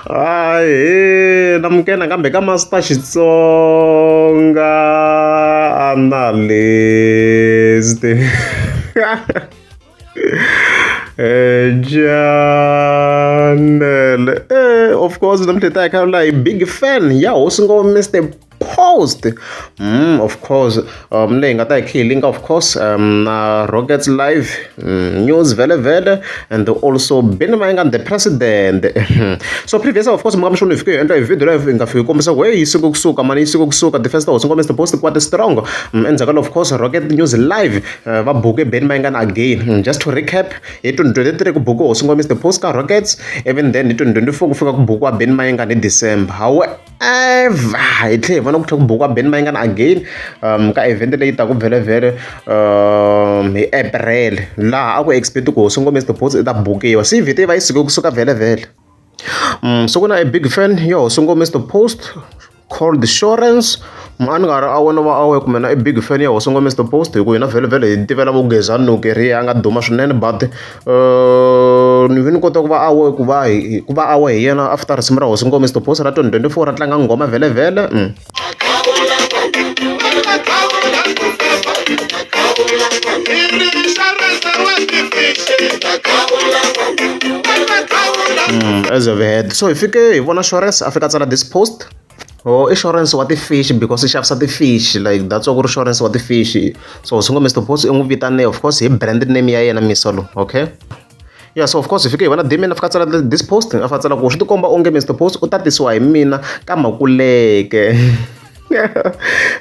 Ahee namukela nakambe ka Master Xitsonga Analyst Chanel eh of course namuntlha hi ta hi kha hi big fan ya hosi ngopfu Mister post mm, of course um leyi nga ta hi khilinga of course um na rockets live mm, news vele vele and also bini mayingani the president so previous of course mukama xona hi fike hi endla hi video leyo hi nga fiki kombisa ku heyi yi siku kusuka mani yi siku kusuka the first house nkombisa the post kwate strong mm, endzhaku of course rocket news live uh, va buke bini mayingani again mm, just to recap hi 2023 ku buke hosi nkombisa the post ka rockets even then hi 2024 ku fika ku bukiwa bini mayingani hi december however ever hi tlhe hi vona ku tlhe ku bukiwa ben mayingani again um ka event leyi taku vhelevhele um hi april laha a ku expect ku hosi ngomesi tiposi i ta bukiwa se vhete va yi suke kusuka vhelevhele um so ku na a big fan yo hosi ngomesi the post called insurance mani nga ri a wona va awe kumbe na i big fan ya hosi ngomesi the post hi ku hina vhelevhele hi tivela vugezani loko ri ya nga duma swinene but ni ve ni kota ku va a ku va hi hi ku va a we hi yena after risimu ra hosi nkomiso thophosa ra twenty twenty four ra tlanga nghoma vhele-vhele . As of so hi fike hi vona Shores a fika a tsala this post. Oh i insurance wa ti-fish because i xavisa ti-fish like that's why ku ri insurance wa ti-fish so swi ngo Mister Boss i n'wi vitane of course hi brand name ya yena Misolo okay yeah so of course hi fike hi vona Damian a fika tsala this post a fika tsala ku swi tikomba onge Mister Boss u tatisiwa hi mina ka makuleke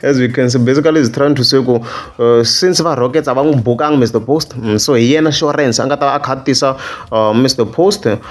as we can see basically is trying to say ku uh, since va rockets a va n'wi bukanga mr post mm, so hi yena surance a nga ta va a kha a tisa uh, mr post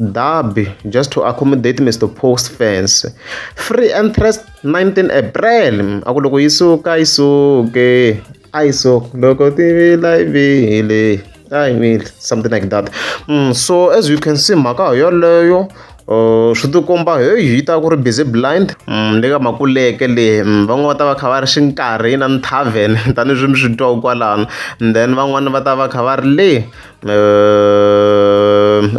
Derby, just to accommodate Mr. Post fans. Free entrance 19 April. Aku loko yi suka yi suke. Ai so loko tivila ivile. I mean something like that. Mm, so as you can see mhaka yoleyo uh, swi tikomba heyi yi ta ku ri busy blind mm, le ka makuleke leyi mm, van'wana va ta va kha va ri xi nkarhi yi na ni tavern tanihileswi mi swi twaku kwalano and then van'wani va ta va kha va ri le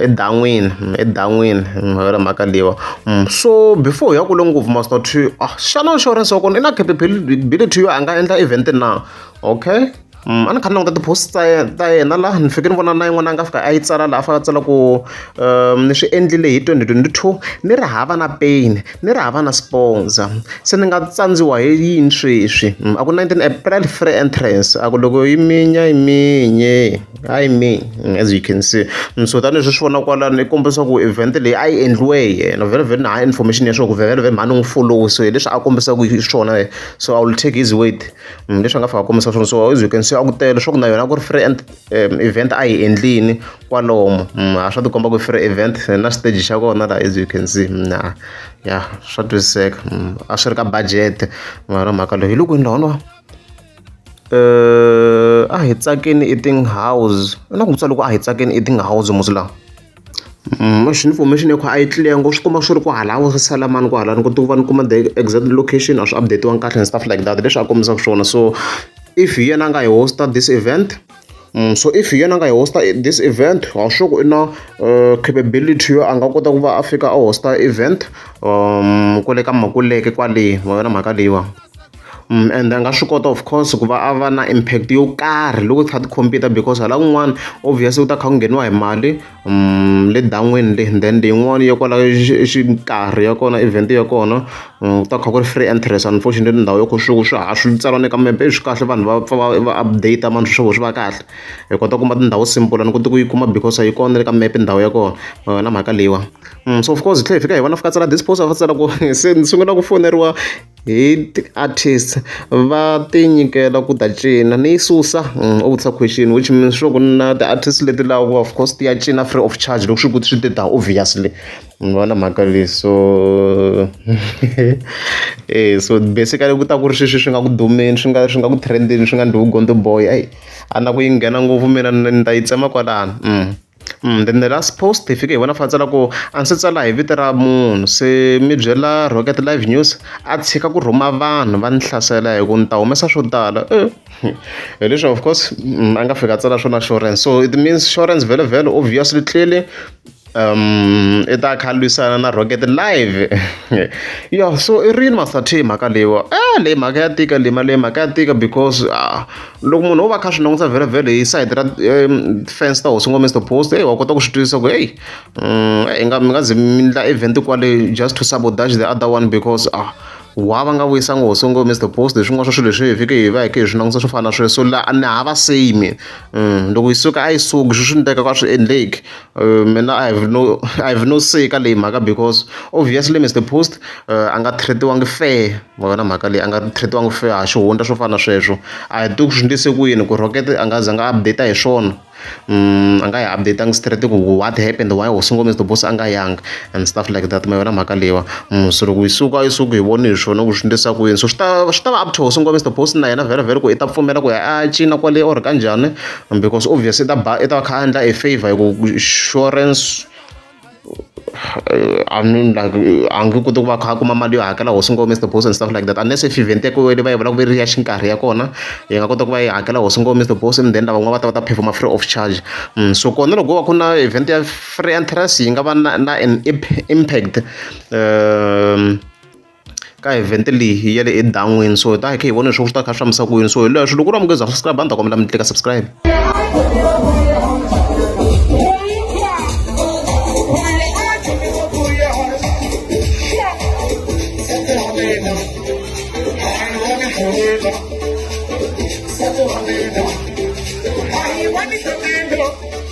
edan'wini edan'wini wena mhaka leyiwa so before hi ya kule ngopfu must not to a xana insurance ya kona i na capability yo a nga endla event na okay a ni kha ni languta ti-post ta yena ta yena laha ni fike ni vona na yin'wana a nga fika a yi tsala laha a fanele a tsala ku ni swi endlile hi twenty twenty two ni ri hava na pain ni ri hava na sponsor se ni nga tsandziwa hi yini sweswi a ku 19 april free entrance a ku loko yi minya yi minye hayi mi as you can see so tanihileswi swi vona kwalano i kombisa ku event leyi a yi endliwe hi yena vhele vhele na ha information ya swo ku vhele vhele mhani n'wi follow so hileswi a kombisaka hi swona so i will take his word leswi a nga fika a kombisa swona so as you can see a ku tele leswaku na yona a ku ri free event a yi endlini kwalomu mm, a swa tikomba ku free event na stage xa kona la as you can see mm, na ya swa twisiseka mm, a swi ri ka budget mara mhaka leyi hi loko ni lona eh a hi tsakeni eating house na ku tsala loko a hi tsakeni eating house musi lawa mashini information yakho a yi tliya ngo swi kuma swi ri ku halawo swi sala mani ku halani ku tuva ni kuma the exact location a swi updatiwanga kahle and stuff like that leswi a kombisaka swona so if hi yena a nga hi hosta this event Mm, so if yena a nga yi hosta this event wa sure ku i na uh, capability yo a nga kota ku va a fika a hosta event um kwale ka makuleke kwale wa yona mhaka leyiwa Mm, and a nga swi kota of course ku va a va na impact yo karhi loko kha ti-computer because hala kun'wana obviously u ta kha ku ngheniwa hi mali le dan'wini le then leyin'wani ya kwala nkarhi ya kona event ya kona ku ta kha ku ri free entrance unfortunately ndhawu ya ko swi swa ha swi tsariwa ni ka mepe swi kahle vanhu va pfa va va update mani swi swi va kahle hi kota ku kuma tindhawu simple a ni koti ku yi kuma because a yi kona na le ka mepe ndhawu ya kona ma vona mhaka leyiwani so of course hi tlhe hi fika hi vona fika tsala disposer va tsala ku se ni sungula ku foneriwa. Hi ti-artist va tinyikela ku ta cina ni yi susa u vutisa question which means sure ku na ti-artist leti lavaka of course ti ya cina free of charge loko swi ku swi te than obviously mi vona mhaka leyi so eya so basically ku ta ku ri sweswi swi nga ku dumeni swi nga swi nga ku trend-eni swi nga ndlhuvi gondzo boy a na ku yi nghena ngopfu mina ni ta yi tsema kwalano. then the last post hi fike hi vona fantsala ku a ni se tsala hi vito ra munhu se mi byela Rocket Live News a tshika ku rhuma vanhu va ni hlasela hi ku ni ta humesa swo tala hi leswi of course a nga fika a tsala swona Shorence so it means Shorence vhele vhele obviously clearly um i ta kha lwisana na Rocket Live yo so i rini Master T mhaka leyiwa a leyi mhaka ya tika leyi mali leyi mhaka ya tika because . loko munhu wo va kha swi langusa vhelavhele hi side ra defense ta hosi ngomesta post hey wa kota ku swi twisisa ku heyi mm, i nga mi nga ze mi ndla event kwale just to sabotage the other one because ah wa va nga vuyisanga hosi ngomesta post hi swin'wana swa swilo leswi hi fike hi va hi ke hi swi langusa swo fana na sweswo la ni hava same mm, loko yi suka a yi suki swi swi ndleka ka swi endleki Uh, mina i have no i have no say ka leyi mhaka because obviously mr post uh, a nga treatiwangi fair wena mhaka leyi a nga treatiwangi fair ha xihundla swo fana na sweswo a hi tiku swi ndlise ku yini ku rocket a nga za nga update hi swona um a nga yi updateangi straight ku what happened why was ngo mr boss a nga yanga and stuff like that ma yona mhaka leyiwa um so loko yi suka yi suka hi voni hi swona ku swi ndlisa ku yini so swi ta swi ta va up to hosi ngo mr boss na yena vhele vhele ku i ta pfumela ku ya a cina kwale or kanjhani Because obvious i ta ba i ta va kha a endla a favor hi ku insurance I mean like a nge koti ku va kha a kuma mali yo hakela hosi ngo Mister Boss and stuff like that unless if event ya kona leyi va yi vulaka ku ri ya xinkarhi ya kona yi nga kota ku va yi hakela hosi ngo Mister Boss and then lavan'wana va ta va ta perform-a free of charge so kona loko ko va ku ri na event ya free entrance yi nga va na na an impact . ka event leyi ya le edan'wini so hi ta hi kha hi vona leswaku swi ta kha swi fambisa ku yini so hi leswo loko u ri munhu ku za subscribe a ni ta kombela mi tlika subscribe Thank you.